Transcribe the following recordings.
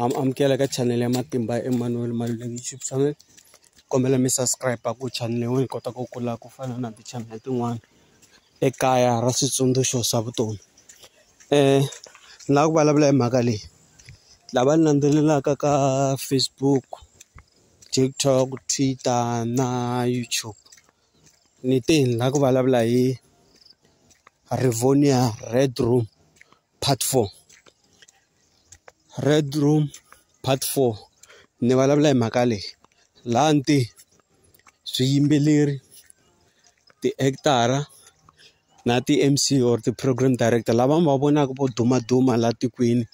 am amukela ka channel ya matimba ya Emmanuel Maluleke YouTube channel kombela mi subscribe ku channel yin'we yi kota ku kula ku fana na ti-channel tin'wana ekaya ra switsundzuxo swa vutomi um ni lava ku vulavula hi mhaka leyi lava ni landzelelaka ka Facebook TikTok Twitter na YouTube ni te ni lava ku vulavula hi Rivonia Red Room part four red room part four ni vulavula hi mhaka leyi laha ni te swiyimbeleri ti-actor-a na ti-M_C or ti-program director lava mi va vonaka vo dumaduma laha tikweni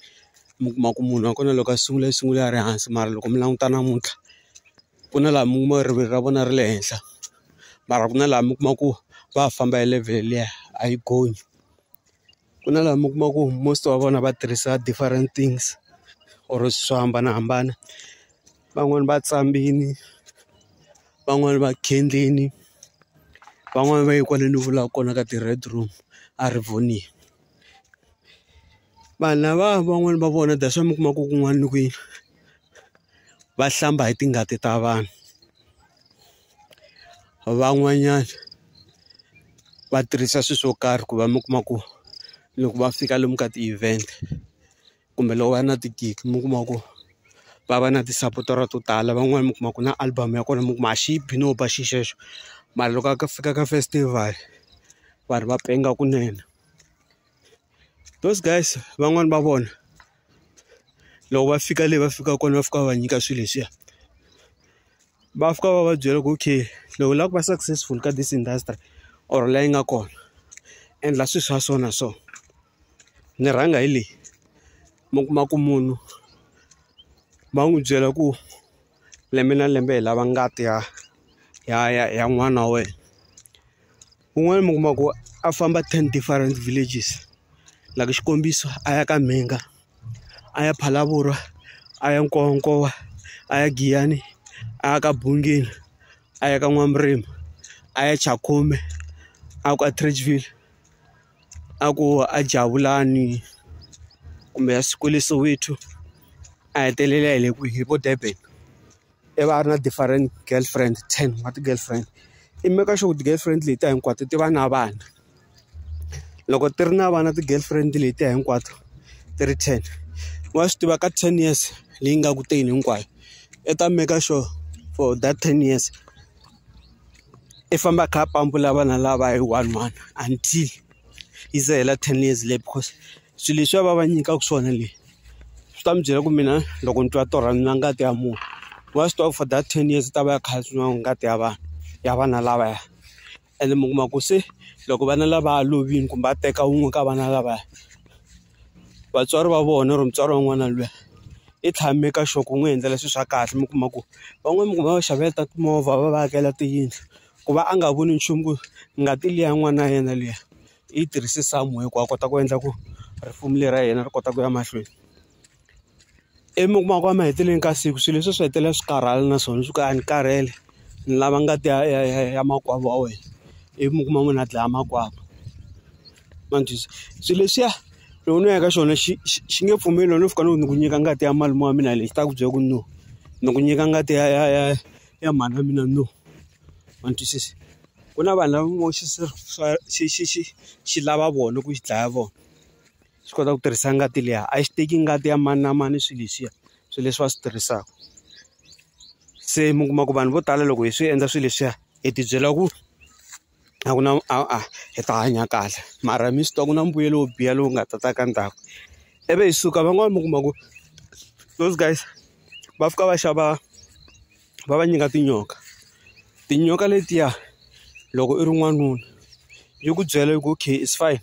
mi kuma ku munhu wa kona loko a sungula i sungule a ri hansi mara loko mi languta namuntlha ku na laha mi kuma rivilo ra vona ri le henhla mara ku na laha mi kuma ku va ha famba hi level liya a yi gonyi. ku na laha mi kuma ku most wa vona va tirhisa different things or swo hambanahambana van'wani va tshamile van'wani va khendleni van'wani va yi kwale ni vulaka kona ka ti red room a ri voni vanhu lava van'wani va vona that's why mi kuma ku kun'wana ni kwihi va hlamba hi tingati ta vanhu. van'wanyana va tirhisa swilo swo karhi ku va mi kuma ku loko va fika lomu ka ti-event kumbe loko va ri na ti-gig mi kuma ku va va na tisapotara to tala van'wani mi kuma ku na album ya kona mi kuma a xi yi bi no ba xi xexo mara loko a ka fika ka festival vanhu va penga kunene those guys van'wani va vona. loko va fika le va fikaka kona va fika va nyika swilo leswiya va fika va va byela ku okay loko u lava ku va successful ka this industry or la yi nga kona endla swilo swa so na so ni rhanga hi leyi mi kuma ku munhu va n'wi byela ku lembe na lembe hi lava ngati ya ya ya ya n'wana wa wena. Kun'wana mi kuma ku a famba ten different villages like xikombiso a ya ka Mhinga a ya Phalaborwa a ya Nkowankowa a ya Giyani a ya ka Bungeni a ya ka N'wamurimi a ya Chakhume a ku Atteridgeville a ku a Jabulani kumbe a swi kwele Soweto a hetelela hi le kwihi hi vo Durban. i va a ri na different girlfriend ten wa ti-girlfriend i make sure ku ti-girlfriend leti ta hinkwato ti va na vana loko ti ri na vana ti-girlfriend leti ta hinkwato ti ri ten wa swi tiva ka ten years leyi nga ku teni hinkwayo i ta make sure for that ten years i famba a kha a pampula vana lava hi one one until yi ze hela ten years leyi because swilo leswi a va va nyikaka swona leyi. swi ta mi byela ku mina loko ni twa torha ni nwa ngati ya munhu wa swi tiva ku for that ten years ta va ya kha nwa ngati ya vanhu ya vana lavaya ene mi kuma ku se loko vana lava lovile kumbe a teka wun'we ka vana lavaya vatswari va vona or mutswari wa n'wana luya i tshame ka xoho ku n'wi endlela swilo swa kahle mi kuma ku van'wani mi kuma va xavela ta timovha va va akela tiyindlu ku va a nga voni nchumu ku ngati liya n'wana ya yena liya. i yi tirhise somewhere ku a kota ku endla ku risimu leri ra yena ri kota ku ya mahlweni ivi mi kuma ku emahetelelweni ka siku swilo leswi swi hetelela swi karhala na swona swi ku a ni karhele ni lava ngati ya ya ya ya makwavo wa wena ivi mi kuma munhu a dlaya makwavo ma ni twisisa swilo leswiya loko no ya ka xona xi xi xi nge pfumeli loko no fika no ni ku nyika ngati ya malume wa mina leyi xi ta ku byela ku no ni ku nyika ngati ya ya ya ya mhana mina no. ma ni twisisa? Ku na vanhu lava vo xi xi xi xi lava vona ku xi dlaya vona, xi kota ku tirhisa ngati liya. A xi teki ngati ya mani na mani swilo leswiya, swilo leswi va swi tirhisaka. Se mi kuma ku vanhu vo tala loko hi swi endla swilo leswiya, hi ti byela ku a ku na hi ta hanya kahle mara mi swi tiva ku na mbuyelo wo biha lowu nga ta ta ka ndzhaku. Ivi hi suka van'wani mi kuma ku those guys va fika va xava. va va nyika tinyoka. Tinyoka letiya loko i ri n'wanuna, yi ku byela yi ku okay it's fine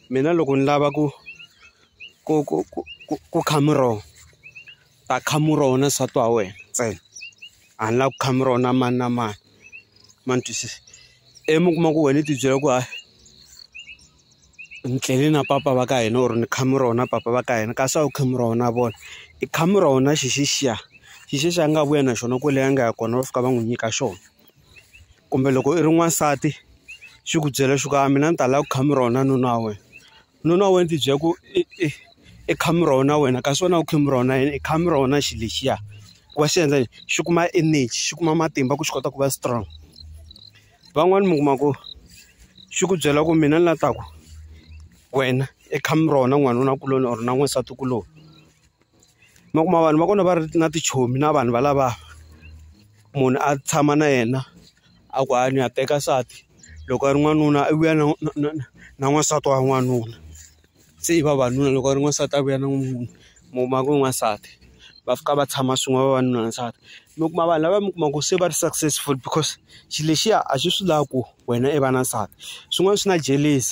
mina loko ni lava ku ku ku ku ku ku kha muroho, ni ta kha muroho na nsati wa wena ntsena. A ni lavi ku kha muroho na mani na mani. Ma ni twisisa? Ivi mi kuma ku wena i ti byela ku hayi. ni tlele na papa va ka hina or ni kha mi rona papa va ka hina kasi a wu kha mi rona vona i kha mi rona xi xexiya xi xexiya a nga vuya na xona kwele a nga ya kona va fika va n'wi nyika xona kumbe loko i ri n'wansati xi ku byela xi ku a mina ni ta la ku kha mi rona nuna wa wena nuna wa wena ti byela ku i i i kha mi rona wena kasi wena a wu kha mi rona yini i kha mi rona xi lexiya ku va xi endla yini xi kuma energy xi kuma matimba ku xi kota ku va strong Van'wani mi kuma ku xi ku byela ku mina ni la ta ku wena i come ra wena n'wanuna kuloni or na n'wansati kuloni mi kuma vanhu va kona va ri na tichomi na vanhu valava munhu a tshama na yena a ku a ni ya teka nsati loko a ri n'wanuna i vuya na na na na n'wansati wa n'wanuna. se i vavanuna loko a ri n'wansati a vuya na n'wanuna mu kuma ku i n'wansati va fika va tshama swin'we vavanuna na nsati mi kuma vanhu lava mi kuma ku se va ri successful because xilo lexiya a xi swi lava ku wena i va na nsati swin'wana swi na jealous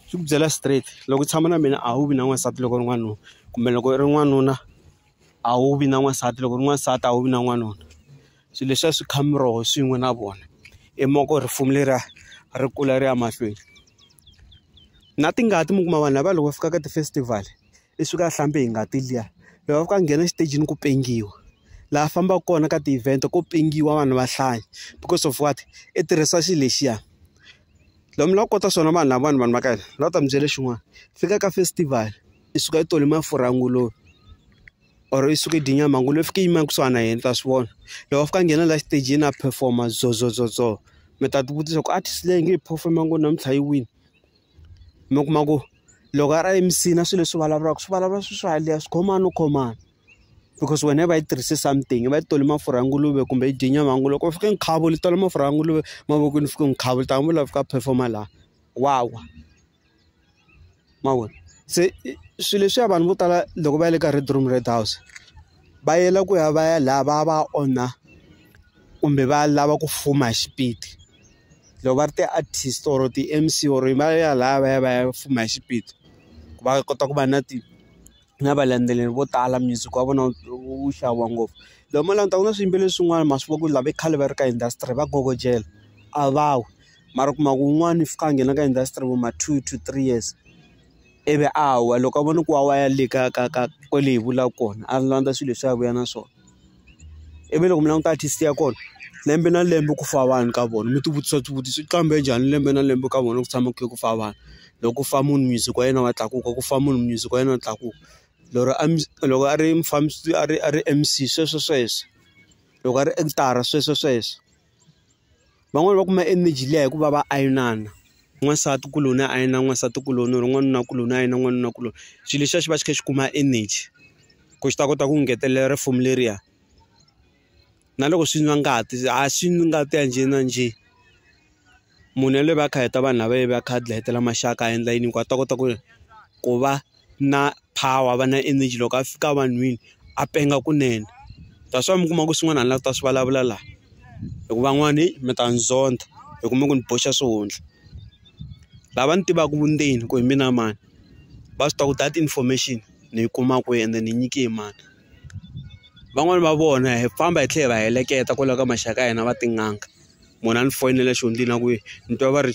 xi ku byela straight loko u tshama na mina a wu vi na n'wansati loko u ri n'wanuna kumbe loko i ri n'wanuna a wu vi na n'wansati loko u ri n'wansati a wu vi na n'wanuna. swilo leswi a swi kha miroho swin'we na vona i moko rifumi leriya ri kula ri ya mahlweni na tingati mi kuma vanhu lava loko va fika ka ti-festival i suka a hlambe hi ngati liya loko va fika a nghena exitejini ku pengiwa laha fambaka kona ka ti-event ko pengiwa vanhu va hlaya because of what i tirhisa xilo lexiya lomu la kota swona vanhu lavawani vanhu va ka hina la ta mi byela xin'wana fika ka festival i suka i tole mafurha nguluve. or i suka i dye nyama ngopfu loyi i fika i yima kusuhana na yena mi ta swi vona loko a fika a nghena la xitejini a perform-a zozozozo mi ta ti vutisa ku artist leyi a nge yi perform-a ngopfu namuntlha yi wini mi kuma ku loko a ri eMC-ni a swi leswi vulavulaka swi vulavula swilo swa haleya swi khoma no khomani because wena i va i tirhise something i va i tole mafurha ya nguluve kumbe i dye nyama ya nguluve loko u fika nkhavu u tala mafurha ya nguluve mavokweni u fika nkhavu u ta vula u fika a perform-a laha wa wa. ma vona se swilo leswiya vanhu vo tala loko va ya le ka red room red house va yela ku ya va ya laha va va onha kumbe va lava ku fuma hi xipidi loko va ri ti-artist or ti-M_C or va ya laha va ya va ya fuma hi xipidi ku va kota ku va na ti. na valendzeleri vo tala music wa vona wu xaviwa ngopfu loko mo languta ku na swiyimbeleri swin'wana ma swi vona ku ri lava khale va ri ka industry va kokotela a va wi mara u kuma ku un'wana u fika a nghena ka industry vo ma two to three years ivi a wa loko a vona ku wa wa ya le ka ka ka kwale hi vulaka kona a landza swilo leswi a vuya na swona. ivi loko mi languta artist ya kona lembe na lembe ku fa vanhu ka vona mi ti vutisa swivutiso i qambhe njhani lembe na lembe ka vona ku tshama ku kha ku fa vanhu loko ku fa munhu music wa yena wa tlakuka ku fa munhu music wa yena wa tlakuka lero a loko a ri mufambisi a ri a ri M_C sweswo sweswo loko a ri actor sweswo sweswo. van'wani va kuma energy liya hikuva va ayinana n'wansati kuloni a ayina n'wansati kuloni or n'wanuna kuloni a ayina n'wanuna kuloni xilo lexiya xi va xi kha xi kuma energy ku xi ta kota ku ngetelela risimu leriya na loko swi nwa ngati a swi nwi ngati ya njhe na njhe. munhu yaloye va kha heta vanhu lava yi va kha dlayetela maxaka a endla yini hikuva a ta kota ku ku va na power va na energy loko a fika vanhwini a penga kunene that's why mi kuma ku swin'wana hala ta swi vulavula laha hi ku van'wani mi ta ni zondha hi kuma ku ni boxa swihundla lava ni tivaka vundzeni ku hi mina mani va swi tiva ku that information ni yi kuma kwihi ende ni nyike hi mani van'wani va vona hi famba hi tlhela hi va heleketa kwala ka maxaka ya hina va tin'anga. munhu a ni foyinela xihundla na ku ni twa va ri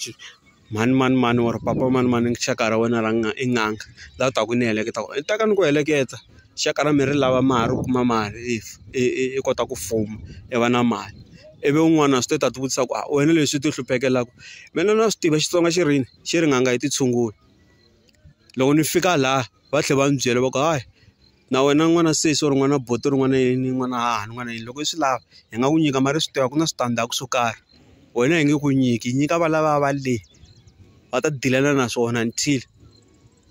mhani mani mani or papa mani mani xaka ra wena ra i n'anga la u taka ni heleketa ku ni ta ka ni ku heleketa xaka ra me ri lava mali u kuma mali if i kota ku fuma i va na mali ivi un'wana a swi tiva ta ti vutisa ku a wena leswi ti hluphekelaku me ni na swi tiva Xitsonga xi ri yini xi ri n'anga yi ti tshungula loko ni fika laha va tlhela va ni byela va ku hayi. na wena n'wana sesi or n'wana buti or n'wana yini n'wana hahani n'wana yini loko i swi lava hi nga ku nyika mara i swi tiva ku na switandzhaku swo karhi wena hi nge ku nyiki hi nyika valava va le va ta dilana na swona until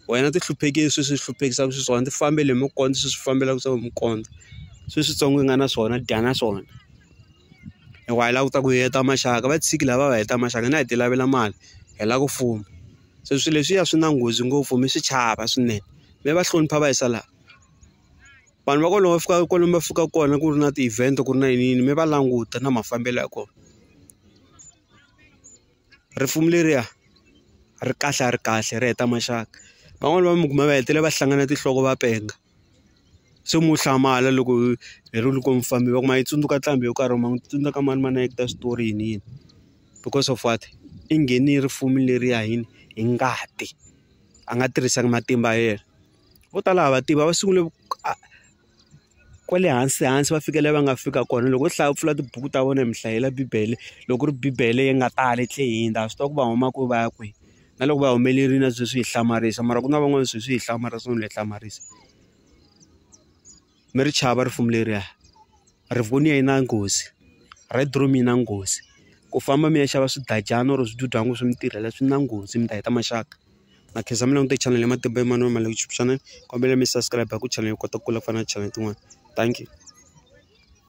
wena ti hluphekile sweswi swi hluphekisaka xiswona ti fambele hi mukondza sweswi swi fambelaka swa mukondza sweswitsongo i nga na swona dya na swona. hikuva hi lava ku ta ku hi heta maxaka va tshiki lava va heta maxaka hina hi ti lavela mali hi lava ku fuma se swilo leswiya swi na nghozi ngopfu mi swi chava swinene mi va hlonipha va yisa laha vanhu va ku loko va fika kwalomu va fikaka kona ku ri na ti-event ku ri na yini yini mi va languta na mafambelo ya kona risimu leriya ri kahle a ri kahle ri heta maxaka van'wani va mi kuma va hetelela va hlangana tinhloko va penga. se mo hlamala loko hi ri loko mi famba va ku ma yi tsundzuka nqambi yo karhi or ma n'wi tsundzuka mani mani a yi ta xitori yini yini because of what i ngheni yi ri fumi leriya yini hi ngati a nga tirhisanga matimba ya yena vo tala ha va tiva va sungule kwale hansi hansi va fika laha va nga fika kona loko u hlaya u pfula tibuku ta vona hi mi hlayela bibele loko ku ri bibele yi nga tali tlhela yi hundza a swi tiva ku va huma kwihi va ya kwihi. na loko va humelerile na sweswi hi hlamarisa mara ku na van'wana sweswi hi hlamarisa no le hlamarisa mi ri chava rifumi leriya rivonia yi na nghozi red room yi na nghozi ku famba mi ya xava swidadyana or swidudwana swi mi tirhela swi na nghozi mi ta heta maxaka na khensa mi langute channel ya matimba emani wa mali ku chipusana kombela mi subscribe ku channel yi kota ku kula ku fana na channel tin'wana thank you.